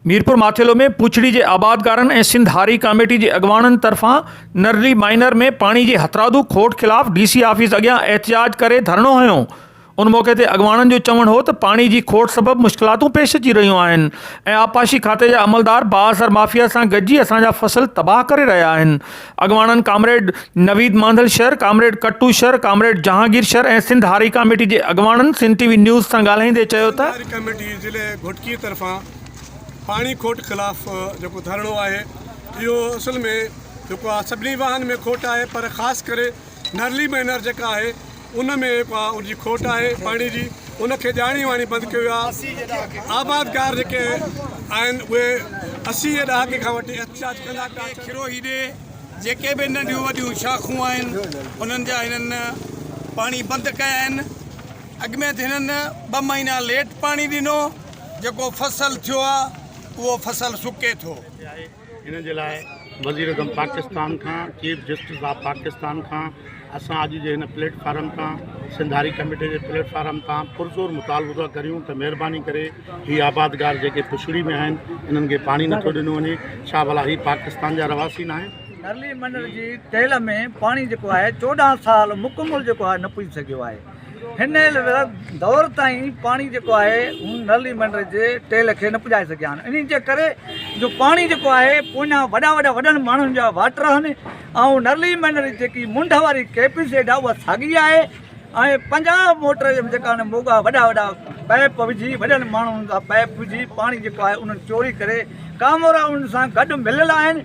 ميرپور ماٿيلو ۾ پوڇڙي جي آبادگارن ۽ سنڌ هاري ڪاميٽي جي اڳواڻن طرفان نرلي مائنر ۾ پاڻي جي هٿرادو کوٽ خلاف ڊي سي آفيس اڳيان احتجاج ڪري ڌرڻو هنيو ان موقعي تي اڳواڻن جو چوڻ هو ته پاڻي جي کوٽ سبب مشڪلاتون پيش اچي رهيون آهن ۽ آبپاشي کاتي جا عملدار بااثر مافيا سان گڏجي اسان جا فصل تباهه ڪري رهيا آهن اڳواڻن comrade Naveed Mandhal Shar, comrade Kattu Shar, comrade Jahangir Shar ۽ Sindh هاري ڪاميٽي جي اڳواڻن سنڌ ٽي وي نيوز سان ڳالهائيندي چيو ته، سنڌ هاري ڪاميٽي ضلعي گهوٽڪي طرفان پاڻي کوٽ خلاف جيڪو ڌرڻو آهي اهو اصل ۾ جيڪو آهي سڀني واهن ۾ کوٽ آهي پر خاص ڪري نرلي مينر جيڪا آهي ان ۾ ڪا ان جي کوٽ آهي پاڻي جي ان کي ڄاڻي واڻي بند ڪيو ويو آهي آبادگار جيڪي آهن اهي اسي جي ڏهاڪي کان وٺي احتجاج ڪندا پيا کيرو هيڏي جيڪي به ننڍيون وڏيون شاخون آهن انهن جا هنن پاڻي بند ڪيا آهن اڳ ۾ هنن ٻه مهينا ليٽ پاڻي ڏنو جيڪو فصل ٿيو آهي اهو فصل سڪي ٿو ان جي لاء وزيراعظم پاڪستان کان چيف جسٽس آف پاڪستان کان اسان اڄ جي هن پليٽ فارم تان سنڌاري ڪميٽي جي پليٽ فارم تان پرزور مطالبو ٿا ڪريون ته مهرباني ڪري هي آبادگار جيڪي پڇڙي ۾ آهن انهن کي پاڻي نٿو ڏنو وڃي ڇا ڀلا هي پاڪستان جا رهواسي نه آهن نرلي منڊل جي تيل ۾ پاڻي جيڪو آهي چوڏهن سال مڪمل جيڪو آهي نه پڄي سگهيو آهي هن دور تائين پاڻي جيڪو آهي هن نل ۽ منڊر جي ٽيل کي نه پڄائي سگهيا آهن انهي جي ڪري جو پاڻي جيڪو آهي پوئيان وڏا وڏا وڏن ماڻهن جا واٽر آهن ۽ نل ۽ منڊر جي جيڪي منڍ واري ڪيپس ايڊا اها ساڳي آهي ۽ پنجاهه موٽر جيڪا آهن موڳا وڏا وڏا پائپ وجهي وڏن ماڻهن جا پائپ وجهي پاڻي جيڪو آهي انهن چوري ڪري ڪامورا انهن سان گڏ مليل آهن